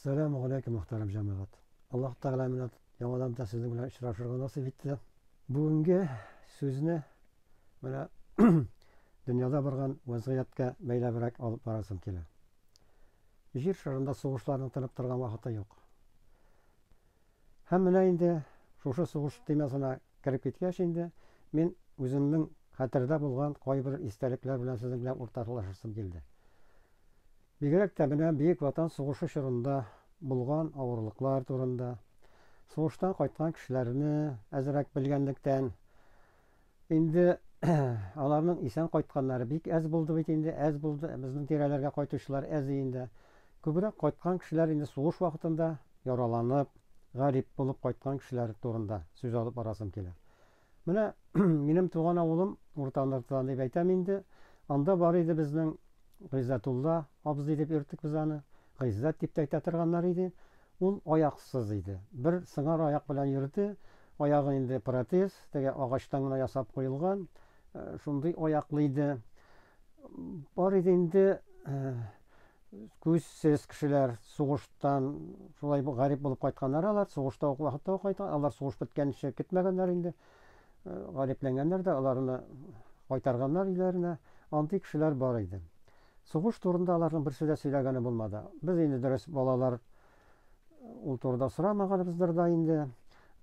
Сәлам галәйкүм мөхтәрәм җәмәгать! Аллаһ Тәгалә менә яңадан да сезнең белән очрашырга насыйп итте. Бүгенге сүзне менә дөньяда барган вәзгыятькә бәйләбрәк алып барасым килә. Җир шарында сугышларның тынып торган вакыты юк. Һәм менә инде шушы сугыш темасына кереп киткәч инде, мин үземнең хәтердә булган кайбер истәлекләр белән сезнең белән уртаклашасым килде. Бигрәк тә менә Бөек Ватан сугышы чорында булган авырлыклар турында, сугыштан кайткан кешеләрне әзрәк белгәнлектән, инде аларның исән кайтканнары бик әз булды бит инде, әз булды, безнең тирәләргә кайтучылар әз иенде. Күбрәк кайткан кешеләр инде сугыш вакытында яраланып, гарип булып кайткан кешеләр турында сүз алып барасым килә. Менә минем туган авылым Урта Ныртыдан дип әйтәм инде. Анда бар иде безнең Гыйззәтулла абзый дип йөрттек без аны. Гыйззәт дип тә әйтә торганнар иде. Ул аяксыз иде. Бер сыңар аяк белән йөрде. Аягы инде протез, теге агачтан гына ясап куелган. Шундый аяклы иде. Бар иде инде. Күзсез кешеләр сугыштан шулай гарип булып кайтканнар алар, сугышта ук вакытта ук кайткан, алар сугыш беткәнче китмәгәннәр инде. Э, гарипләнгәннәр дә, аларны кайтарганнар өйләренә. Андый кешеләр бар иде. Сугыш турында аларның берсе дә сөйләгәне булмады. Без инде дөрес балалар Ул турыда сорамаганыбыздыр да инде.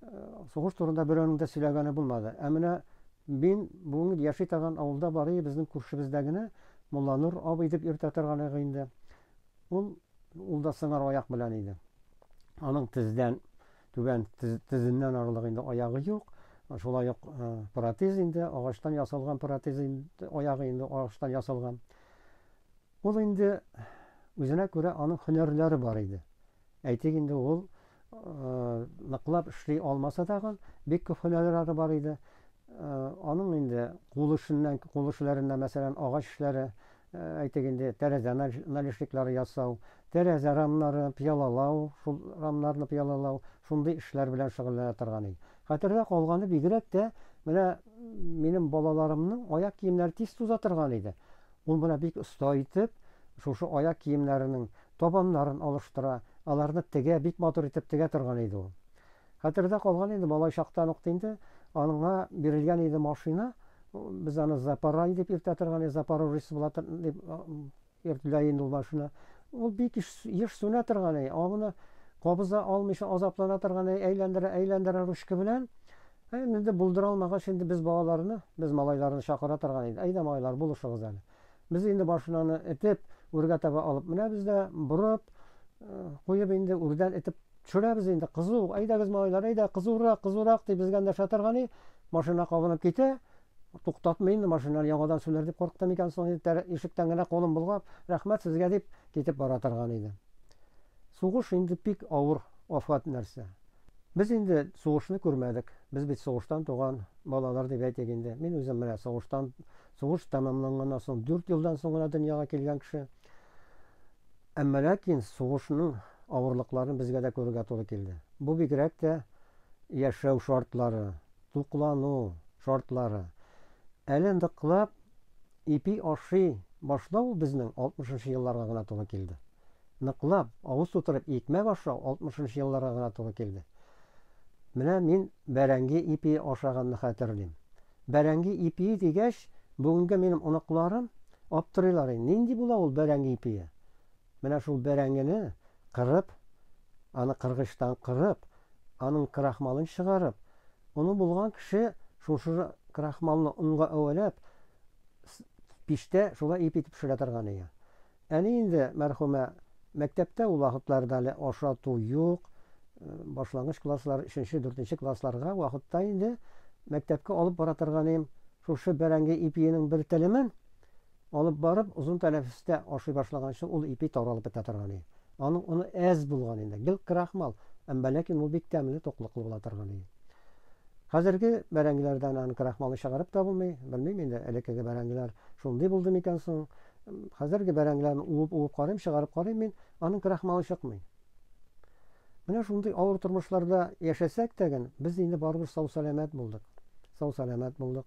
Э, сугыш турында берәүнең дә сөйләгәне булмады. Ә менә мин бүген яши торган авылда бар иде, безнең күршебездә генә Мулланур абый дип йөртә торган иде инде. Ул ул да сыңар аяк белән иде. Аның тездән түбән тезеннән арылык инде аягы юк. Шулай ук э, протез инде, агачтан ясалган протез инде, аягы инде агачтан ясалган. Ул инде үзенә күрә аның һөнәрләре бар иде. Әйтик инде ул ныклап эшли алмаса тагын, бик күп һөнәрләре бар иде. Аның инде кул эшеннән, кул эшләреннән, мәсәлән, агач эшләре, әйтик инде, тәрәзә налешниклары ясау, тәрәзә рамнары, пыялалау, шул рамнарны пыялалау, шундый эшләр белән шөгыльләнә торган иде. Хәтердә калганы бигрәк тә, менә минем балаларымның аяк киемнәре тиз туза торган иде. Ул моны бик оста итеп, шушы аяк киемнәренең табаннарын алыштыра, аларны тегә, бик матур итеп тегә торган иде ул. Хәтердә калган инде, малай чактан ук инде аңа бирелгән иде машина, без аны Запорай дип йөртә торган идек, Запорожец була торган дип йөртелә инде ул машина. Ул бик еш сүнә торган иде, аны кабыза алмыйча азаплана торган иде, әйләндерә-әйләндерә ручка белән, Ә инде дә булдыра алмагач, инде без балаларны, без малайларны чакыра торган идек. Әйдә, малайлар, булышыгыз әле. Без инде машинаны этеп, үргә таба алып менәбез дә, борып, куеп инде үрдән этеп төшерәбез инде. Кызу, әйдәгез, малайлар, әйдә, кызурак, кызурак, дип безгә эндәшә торган и, машина кабынып китә, туктатмый инде, машинаны яңадан сүнәр дип курыкты микән соң, инде ишектән генә кулын болгап, рәхмәт сезгә, дип китеп бара торган иде. Сугыш инде бик авыр афәт нәрсә. Без инде сугышны күрмәдек. Без бит сугыштан туган балалар дип әйтик инде. Мин үзем менә сугыштан, сугыш тәмамланганнан соң дүрт елдан соң гына дөньяга килгән кеше. Әмма ләкин сугышның авырлыкларын безгә дә күрергә туры килде. Бу бигрәк тә яшәү шартлары, туклану шартлары. Әле ныклап Ипи ашый башлау ул безнең алтмышынчы елларга гына туры килде. Ныклап, авыз тутырып икмәк ашау алтмышынчы елларга гына туры килде. Менә мин бәрәңге ипие ашаганны хәтерлим. Бәрәңге ипие дигәч, бүгенге минем оныкларым аптырыйлар, нинди була ул бәрәңге ипие? Менә шул бәрәңгене кырып, аны кыргычтан кырып, аның крахмалын чыгарып, оны булган кеше шушы крахмалны онга әвәләп, пиштә шулай ип итеп пешерә торган ие. Әни инде, мәрхүмә, мәктәптә ул вакытларда әле ашату юк, башлангыч класслар, өченче, дүртенче классларга вакытта инде мәктәпкә алып бара торганым шушы бәрәңге ипиенең бер телемен, Алып барып, озын тәнәфестә ашый башлаганчы ул ипи таралып бетә торган иде. Аның оны әз булган инде, гел крахмал, әмма ләкин ул бик тәмле, туклыклы була торган иде. Хәзерге бәрәңгеләрдән аны крахмалы чыгарып та булмый, белмим инде, элеккеге бәрәңгеләр шундый булды микән соң. Хәзерге бәрәңгеләрне уып-уып карыйм, чыгарып карыйм мин, аның крахмалы чыкмый. Менә шундый авыр тормышларда яшәсәк тәген, без инде барыбер сау-сәламәт булдык. Сау-сәламәт булдык.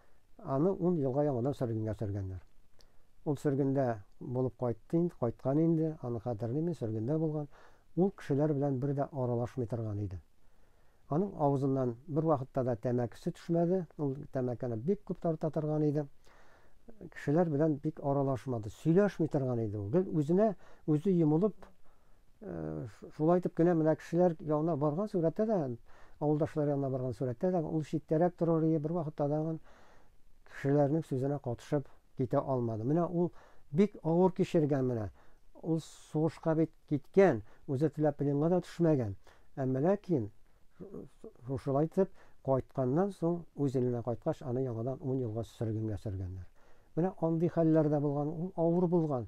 Аны ун елга яңадан сөргенгә сөргәннәр. Ул сөргендә булып кайтты инде, кайткан инде, аны хәтерлим мин, сөргендә булган. Ул кешеләр белән бер дә аралашмый торган иде. Аның авызыннан бервакытта да тәмәкесе төшмәде, ул тәмәкене бик күп тарта торган иде. Кешеләр белән бик аралашмады, сөйләшми торган иде ул. Гел үзенә үзе йомылып, Шулай итеп кенә менә кешеләр янына барган сурәттә дә, авылдашлар янына барган сурәттә дә ул читтәрәк торыр ие, бервакытта да ан кешеләрнең сүзенә катышып китә алмады. Менә ул бик авыр кичергән менә. Ул сугышка бит киткән, үзе теләп пленга да төшмәгән. Әмма ләкин шушылай итеп кайтканнан соң, үз иленә кайткач, аны яңадан ун елга сөргенгә сөргәннәр. Менә андый хәлләр дә булган, ул авыр булган.